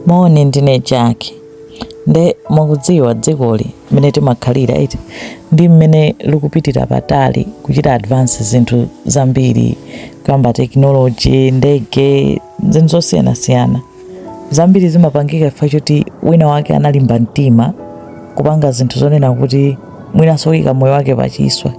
Moni, ndine Jack. Nde mwakudziwa dzikoli mmene timakhalira iti ndi mmene likupitira patali kuchita advance zinthu zambiri kuyamba tekinoloji, ndege, zinthu zosiyanasiyana zambiri zimapangika chifukwa choti wina wake analimba mtima kupanga zinthu zonena kuti mwinanso kuyika moyo wake pachiswe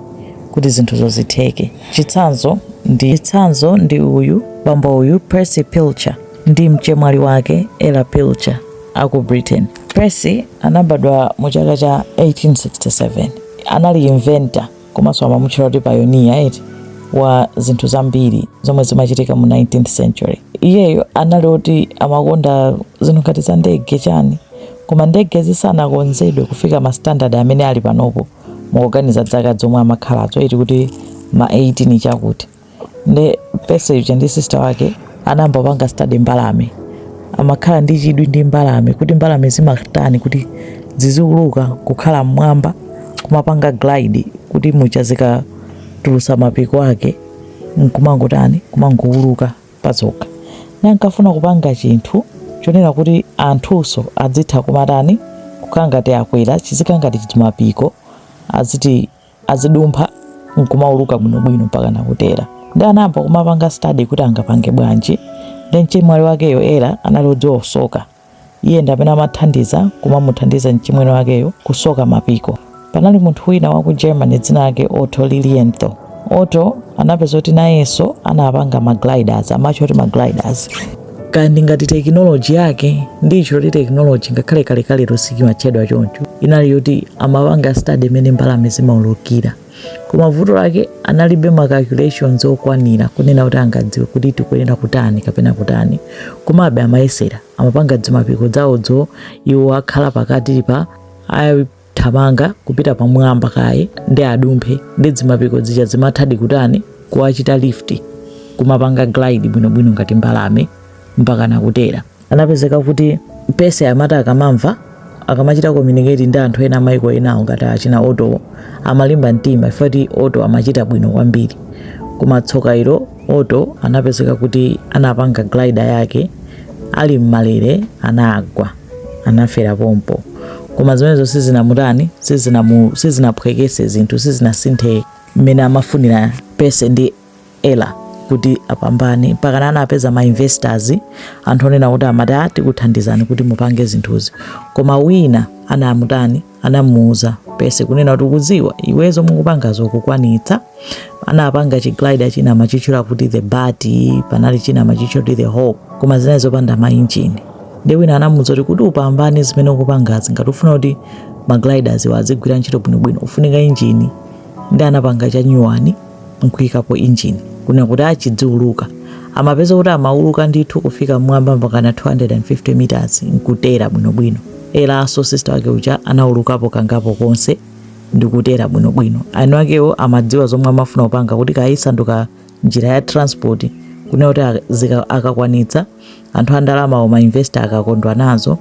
kuti zinthuzo zitheke. Chitsanzo chitsanzo ndi uyu bambo uyu Percy Pilcher. ndi mchemwali wake Ella Pilcher a ku Britain. Percy anabadwa mu chaka cha 1867. Anali inventor komanso amamutchula kuti pioneer eti wa zinthu zambiri zomwe zimachitika mu 19th century. Iyeyo anali oti amakonda zinthu ngati za ndege chani koma ndege zisanakonzedwe kufika ma standard amene ali panopo mukuganiza dzaka zomwe amakhalazo eti kuti ma 18 chakuti nde Percy ndi sister wake anayamba kupanga study mbalame amakhala ndi chidwi ndi mbalame kuti mbalame zimatani kuti ziziuluka kukhala mmwamba kumapanga glide kuti mwachidzi zikatulutsa mapiko ake nkumangotani kumangouluka pazokha ndi ankafuna kupanga chinthu chonena kuti anthunso adzitha kumatani kukhala ngati akwera chizikhala ngati chimapiko aziti azidumpha nkumauluka bwinobwino mpaka nakutera nde anayamba kumapanga study kuti angapange bwanji nde mchemwali wakeyo Ella anali odziwa kusoka iye ndi amene amathandiza kumamuthandiza mchimwene wakeyo kusoka mapiko panali munthu wina wa ku Germany dzina lake Otto Lilienthal Otto anapeza kuti nayenso anapanga magliders amatcha kuti magliders kaya ndingati tekinoloji yake ndicho kuti tekinoloji ngakhale kalekalelo sichimatchedwa choncho inali yoti amapanga study mmene mbalame zimaulukira koma vuto lake analibe ma calculations okwanira kunena kuti angadziwe kuti tikuyenera kutani kapena kutani komabe amayesera amapanga dzimapiko dzawodzo iwo akhala pakati pa thamanga kupita pamwamba kaye nde adumphe ndi dzimapiko dzija dzimathadi kutani kuwachita lift kumapanga glide bwinobwino ngati mbalame mpaka nakutera anapezeka kuti Percy amati akamamva akamachita communicate ndi anthu ena amaiko enawo ngati achina Ottowo amalimba mtima chifukwa choti Otto amachita bwino kwambiri koma tsoka ilo Otto anapezeka kuti anapanga glider yake ali m'malere anagwa anafera pompo koma zimenezo sizinamutani sizinamu- sizinaphweketse zinthu sizinasinthe mmene amafunira Percy ndi Ella kuti apambane mpakana anapeza ma investors anthu onena kuti amati "Ah, tikuthandizani kuti mupange zinthuzi koma wina anamutani anamuuza Percy kunena kuti ukudziwa iwe zomwe ukupangazi ukukwanitsa anapanga chiglider china amachitchula kuti the bat panali china amachitchula kuti the hawk koma zinali zopanda mainjini ndi wina anamuuza kuti kuti upambane zimene ukupangazi ngati ufuna kuti magliders awa azigwira ntchito bwinobwino ufunika injini ndi anapanga cha nyuwani nkuikapo engine kuna kuti achidziuluka amapeza kuti amauluka ndithu kufika mmwamba mpakana 250 meters nkutera bwinobwino Ellanso sister wake uja anaulukapo kangapo konse ndikutera bwinobwino anthu akewo amadziwa zomwe amafuna kupanga kuti kayisanduka njira ya transport kuna kuti akakwanitsa anthu andalama ma investor akakondwa nazo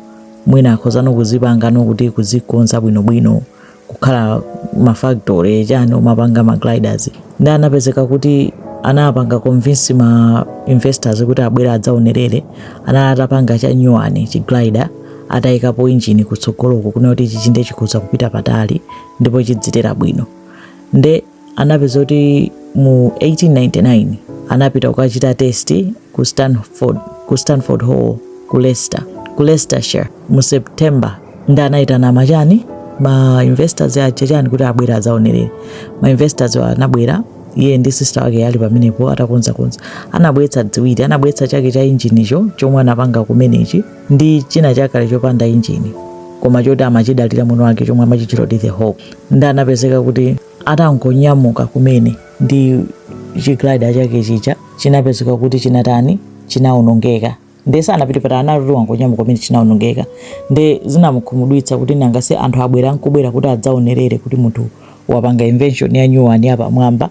mwina akhozano kuzipanga nokuti kuzikonza bwinobwino kukhala ma factory chani kumapanga ma gliders ndi anapezeka kuti anapanga convince ma investors kuti abwere adzaonerere anali atapanga cha nyuwani chi glider atayikapo injini kutsogoloko kuna kuti chi chinthu chikhoza kupita patali ndipo chidzitera bwino nde anapeza kuti mu 1899 anapita kukachita test ku Stanford Hall ku Leicestershire mu September ndi anayitana machani ma investors aja chani kuti abwere azaonerere ma investors anabwera iye ndi sister wake ali pamenepo atakonzakonza anabweretsa ziwiri anabweretsa chake cha injinicho chomwe anapanga kumenechi ndi china chakale chopanda injini koma choti amachidalira mwini wake chomwe amachitchula kuti the hawk ndi anapezeka kuti atangonyamuka kumene ndi chiglida chake chija chinapezeka kuti chinatani chinawonongeka nde sanapite patali anangoti wangonyamuka kumene chinawonongeka nde zinamukhumudwitsa kuti nanga si anthu abwera nkubwera kuti adzaonerere kuti munthu wapanga invention ya new one yapamwamba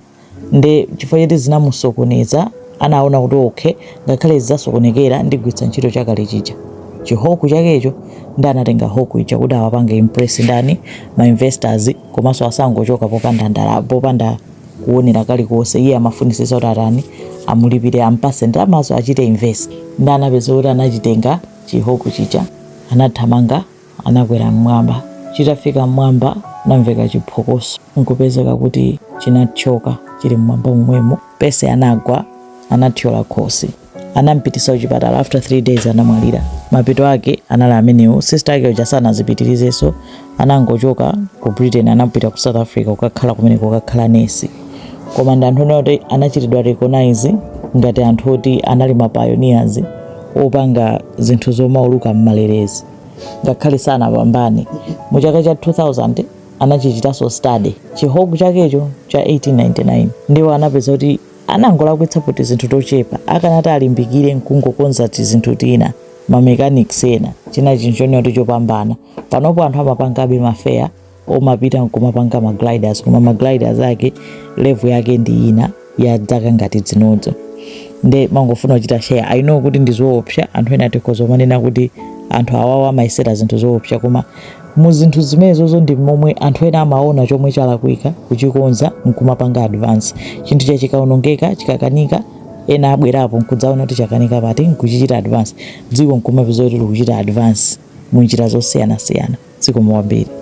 nde chifukwa choti zinamusokoneza anaona kuti okay ngakhale zasokonekera ndigwiritsa ntchito chakale chija chihawk chakecho ndi anatenga hawk ija kuti awapange impress ndani ma investors komanso asangochoka popanda ndala popanda kuonera kalikonse iye amafunisisa kuti atani amulipire ampase ndalamazo achite invest ndi anapeza kuti anachitenga chihawk chija anathamanga anakwera m'mwamba. Chitafika m'mwamba kunamveka chiphokoso n'kupezeka kuti chinathyoka chili m'mwamba momwemo. Percy anagwa, anathyola khosi. Anam'pititsa kuchipatala. After 3 days anamwalira. Mapeto ake anali amenewo. Sister ake uja sanazipitirizenso, anangochoka ku Britain anapita ku South Africa kukakhala kumeneko, kukakhala nesi. Koma ndi anthu oti anachitidwa recognize ngati anthu oti anali ma pioneers opanga zinthu zomauluka m'malerezi. ngakhale sanapambane mu chaka cha 2000 anachichitanso study chihoku chakecho cha 1899 ndipo anapeza kuti anangolakwitsapo tizinthu tochepa akanati alimbikire nkungokonza tizinthu tina mamechanics ena china chinthu chonena kuti chopambana panopo anthu amapangabe mafeya omapita nkumapanga ma gliders koma ma gliders ake level yake ndi ina ya dzaka ngati dzinodzo nde ndimangofuna kuchita share i know kuti ndi zoopsa anthu ena tikhoza kumanena kuti anthu awawa amayesera zinthu zoopsa koma mu zinthu zimenezozo ndi momwe anthu ena amaona chomwe chalakwika kuchikonza nkumapanga advance chinthu cha chikaonongeka chikakanika ena abwerapo nkudzaona kuti chakanika pati nkuchichita advance dziko nkumapeza kuti likuchita advance mu njira zosiyanasiyana zikomo kwambiri